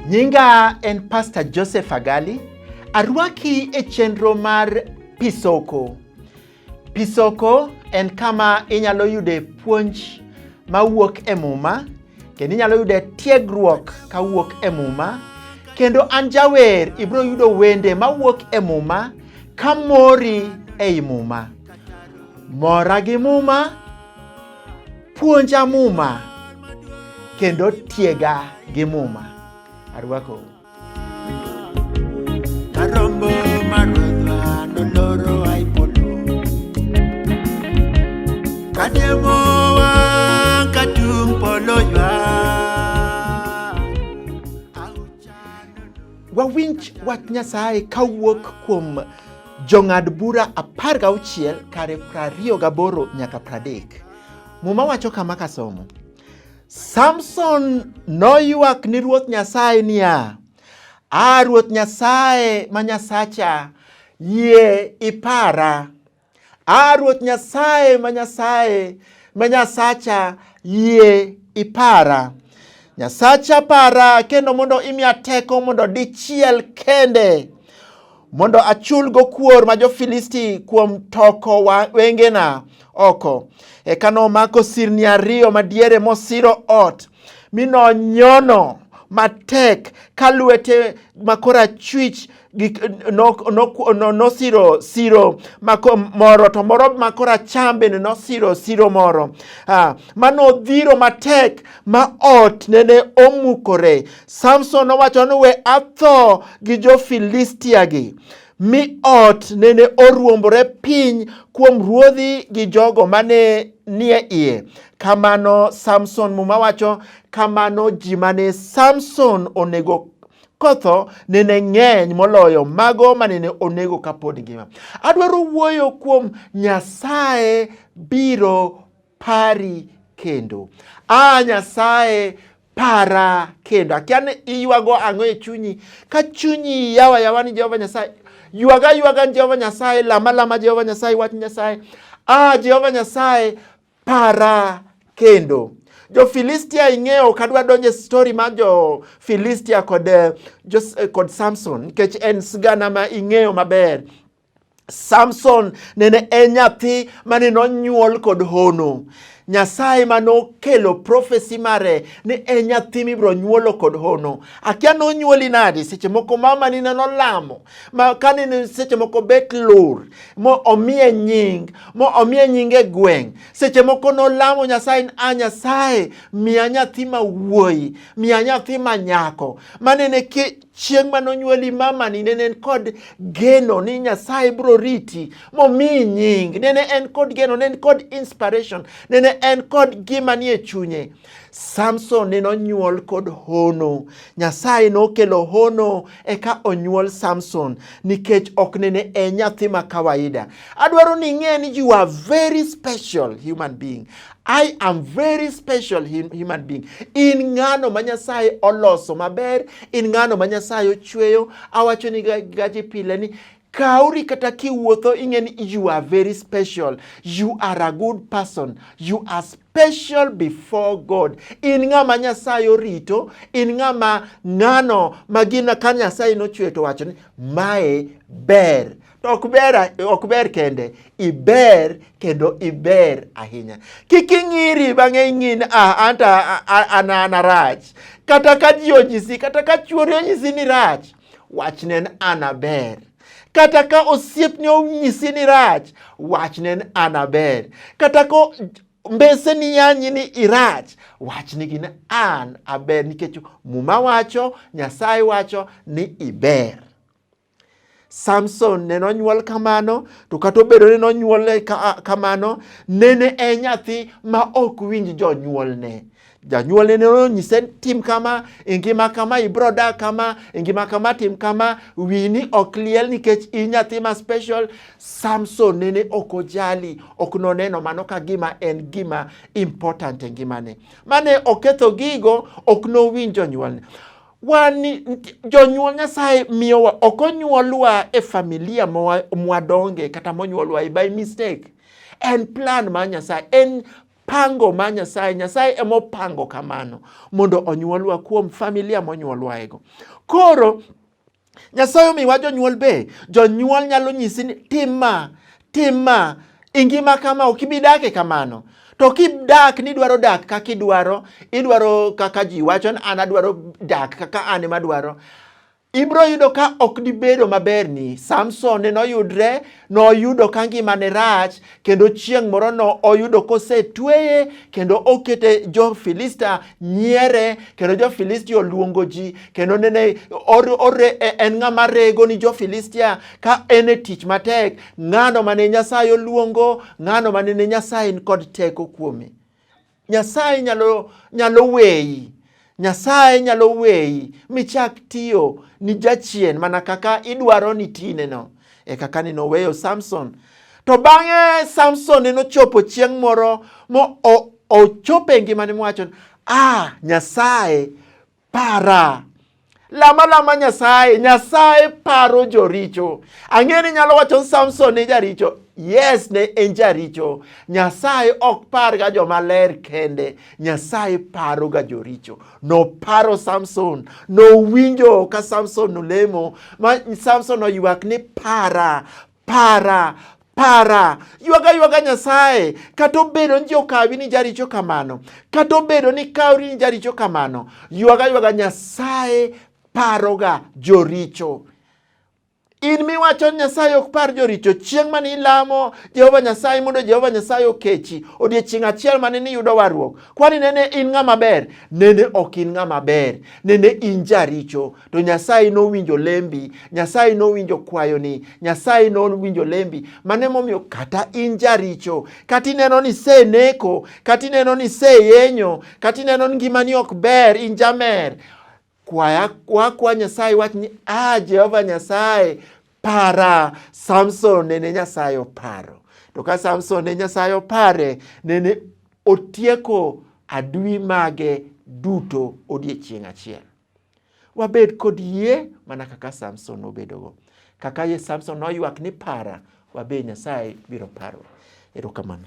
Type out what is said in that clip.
Nyinga en Pastor Joseph Agali. Arwaki e chenro mar Pisoko. Pisoko en kama inyalo yude puonj mawuok e Muma kendo inyalo yude tiegruok kawuok e Muma kendo an jawer ibiro yudo wende mawuok e Muma ka mori ei Muma. Mora gi Muma, puonja Muma kendo tiega gi Muma. Arwakou. Wawinj wach Nyasaye kawuok kuom jong'ad bura apar gauchiel kare prariyo gaboro nyaka pradek. Muma wacho kama kasomo Samson noywak ni Ruoth Nyasaye niya, A Ruoth Nyasaye ma Nyasacha, yie ipara. A Ruoth Nyasaye ma Nyasaye ma Nyasacha, yie ipara. Nyasacha para kendo mondo imiya teko mondo dichiel kende mondo achulgo kuor ma jo-Filisti kuom toko wengena oko. Eka nomako sirni ariyo madiere mosiro ot, mi nonyono matek ka lwete makoro achwich nosiro siro moro to moro makoro acham bende nosiro siro moro ah, ma nodhiro matek ma ot nene omukore. Samson nowacho ni we atho gi jo-Filistia gi mi ot nene oruombore piny kuom ruodhi gi jogo mane nie iye. Kamano Samson, Muma wacho, kamano ji mane Samson onego kotho nene ng'eny moloyo mago manene onego kapod ngima. Adwaro wuoyo kuom Nyasaye biro pari kendo. A Nyasaye para kendo. Akia ni iywago ang'o e chunyi. Ka chunyi yawa yawa ni Jehova Nyasaye, ywaga ywaga ni Jehova Nyasaye, lama lama Jehova Nyasaye, wach Nyasaye. A Jehova Nyasaye para kendo. Jo-Filistia ing'eyo ok adwa donjo e stori mar Jo-Filistia kod, eh, eh, kod Samson nikech en sigana ma ing'eyo maber. Samson nene en nyathi mane nonyuol kod hono. Nyasaye ma nokelo profesi mare ni en nyathi mibiro nyuolo kod hono. Akia nonyuoli nadi, seche moko mama ni neno lamo, ma kane seche moko bet lur, mo omiye nying, mo omiye nying e gweng'. Seche moko nolamo Nyasaye ni a Nyasaye miya nyathi ma wuoyi, miya nyathi ma nyako. Manene Chieng' ma nonyuoli mamani nene en kod geno ni Nyasaye bro riti momiyi nying. Nene en kod geno, nene en kod inspiration, nene en kod gima nie chunye. Samson nene onyuol kod hono. Nyasaye nokelo hono eka onyuol Samson nikech ok nene en nyathi ma kawaida. Adwaro ni ing'e ni you are very special human being. I am very special human being. In ng'ano ma Nyasaye oloso maber, in ng'ano ma Nyasaye ochweyo. Awacho ni gaji pile ni kauri kata kiwuotho ing'e ni you are very special. You are a good person. You are special before God. In ng'ama Nyasaye orito, in ng'ama ng'ano ma gina ka Nyasaye nochweyo to wacho ni mae ber. To ok ber, ok ber kende, iber kendo iber ahinya. Kik ing'iri bang'e ing'in ah, anta an an arach. Kata ka ji onyisi, kata ka chuori onyisi ni rach, wachne ni an aber. Kata ka osiepni onyisi ni rach, wachne ni an aber. Kata ka mbese ni yanyi ni irach, wachne gin an aber nikech Muma wacho, Nyasaye wacho ni iber. Samson ne nonyuol kamano, to kata obedo ni nonyuole kamano, nene e nyathi ma ok winj jonyuolne. Janyuolne ne onyise tim kama, e ngima kama, ibro dak kama, e ngima kama tim kama, wini ok liel nikech i nyathi ma special. Samson nene ok ojali, ok noneno mano ka gima en gima important e ngimane. Mane oketho gigo, ok nowinj jonyuolne. wan jonyuol Nyasaye miyowa ok onyuolwa e familia mwadonge kata monyuolwa e by mistake. En plan ma Nyasaye, en pango ma Nyasaye. Nyasaye emopango kamano mondo onyuolwa kuom familia monyuolwaego. Koro Nyasaye omiwa jonyuol be. Jonyuol nyalo nyisi ni tim ma, tim ma, e ngima kama ok ibi dak e kamano. To kidak ni idwaro dak kaka idwaro, idwaro kaka ji wacho ni an adwaro dak kaka an ema adwaro, ibiro yudo ka ok dibedo maberni. Samson ne noyudre noyudo ka ngimane rach kendo chieng' moro no oyudo kosetweye kendo okete jo-Filistia nyiere kendo jo-Filistia oluongo ji kendo nene e, en ng'ama rego ni jo-Filistia ka en e tich matek ng'ano mane Nyasaye oluongo ng'ano mane ne Nyasaye kod teko kuome Nyasaye nyalo, nyalo weyi Nyasaye nyalo weyi michak tiyo ni jachien mana kaka idwaro ni tineno. E kaka ni noweyo Samson. To bang'e Samson ne nochopo chieng' moro mo ochopo e ngimane mowacho, ah, Nyasaye para. Lama lama Nyasaye, Nyasaye paro joricho. Ang'e ni nyalo wacho Samson ne jaricho. Yes, ne en jaricho. Nyasaye ok par ga joma ler kende. Nyasaye paro ga joricho. Noparo Samson, nowinjo ka Samson nolemo, ma Samson oywak ni para, Para, para, ywaga ywaga Nyasaye, kata obedo ni ji okawi ni jaricho kamano, kata obedo ni kawri ni jaricho kamano, ywaga ywaga Nyasaye paroga joricho. In miwacho ni Nyasaye ok par joricho, chieng' mane ilamo Jehova Nyasaye mondo Jehova Nyasaye okechi, odiechieng' achiel mane niyudo warruok, kwani nene in ng'ama ber? Nene ok in ng'ama ber, nene in jaricho. to Nyasaye nowinjo lembi, Nyasaye nowinjo kwayoni, Nyasaye nowinjo lembi. Mano emomiyo kata in jaricho, kata ineno ni iseneko, kata ineno ni iseyenyo, kata ineno ni ngimani ok ber, in jamer, kwaya wakwa Nyasaye wach ni ah, Jehova Nyasaye para. Samson nene Nyasaye oparo, to ka Samson ne Nyasaye opare, nene otieko adui mage duto odiechieng' achiel. Wabed kod yie mana kaka Samson nobedogo. Kaka ye Samson noywak ni para, wabe Nyasaye biro paro. Erokamano.